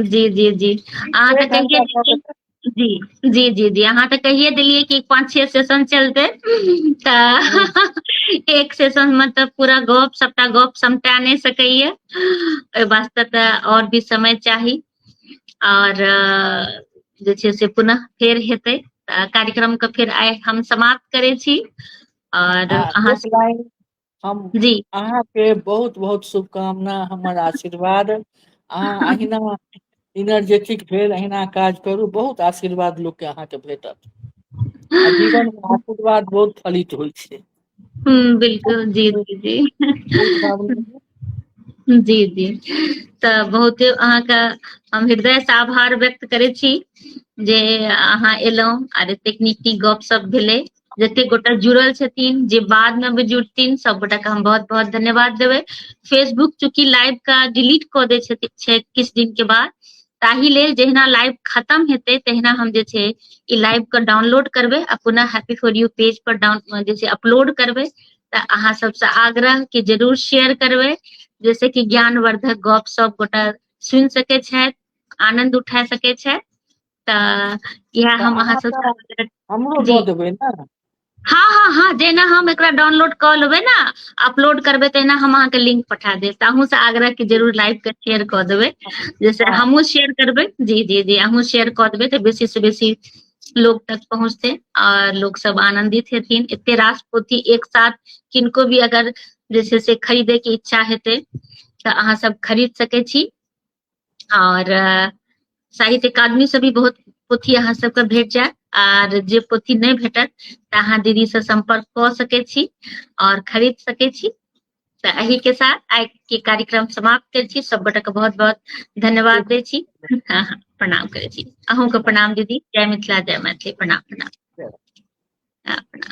जी जी जी अहाँ तऽ कहिए जी जी जी जी अहाँ तऽ कहिए देलियै कि पाँच छः सेशन चलतै तऽ एक सेशनमे तऽ पूरा गप सभटा गप समटा नहि सकैए ओहि वास्ते तऽ आओर भी समय चाही आओर जे छै से पुनः फेर हेतै कार्यक्रमके फेर आइ हम समाप्त करै छी आओर अहाँ हम जी अहाँ के बहुत बहुत शुभकामना हमर आशीर्वाद अहाँ अहिना इनर्जेटिक भेल अहिना काज करू बहुत आशीर्वाद लोकके अहाँके भेटत आ जीवन में आशीर्वाद बहुत फलित होइ छै हम्म, बिल्कुल जी जी जी बहुत भावना जी जी तऽ बहुते अहाँके हम हृदय से आभार व्यक्त करै छी जे अहाँ एलहुँ आर एतेक नीक नीक गप सब भेलै जतेक गोटा जुड़ल छथिन जे बाद में भी जुड़थिन सब गोटा के हम बहुत बहुत धन्यवाद देवे फेसबुक चूंकि लाइव का डिलीट कऽ दै छथि छै किछु दिन के बाद ताहि लेल जहिना लाइव खत्म हेतै तहिना हम जे छै ई लाइव के डाउनलोड करबै आ पुनः हैप्पी फॉर यू पेज पर डाउन जे छै अपलोड करबै तऽ अहाँ सबसँ आग्रह कि जरूर शेयर करबै जैसे कि ज्ञानवर्धक गप सब गोटा सुनि सकै छथि आनंद उठा सकै छथि तऽ इएह तऽ हम अहाँ अहाँसँ तऽ हमरो जी दऽ देबै ने हँ हँ हँ जेना हम एकरा डाउनलोड कऽ लेबै ने अपलोड करबै तहिना हम अहाँके लिंक पठा देब तऽ अहूँ से आग्रह क जरूर लाइक के शेयर कऽ देबै जैसे हँ हमहुँ शेयर करबै जी जी जी अहूँ शेयर कऽ देबै तऽ बेसी से बेसी लोग तक पहुँचतै आओर लोक सब आनन्दित हेथिन एते रास पोथी एक साथ किनको भी अगर जे छै से खरीदे के इच्छा हेतै तऽ अहाँ सब खरीद सकै छी और साहित्य अकादमी से भी बहुत पोथी अहाँ सबके भेट जायत आर जे पोथी नहि भेटत तऽ अहाँ दीदी से संपर्क कऽ सके छी और खरीद सके छी तऽ एहि के साथ आइ के कार्यक्रम समाप्त कर छी सब गोटे के बहुत बहुत धन्यवाद दे छी प्रणाम करे छी अहूँ के प्रणाम दीदी जय मिथिला जय मैथिली प्रणाम प्रणाम प्रणाम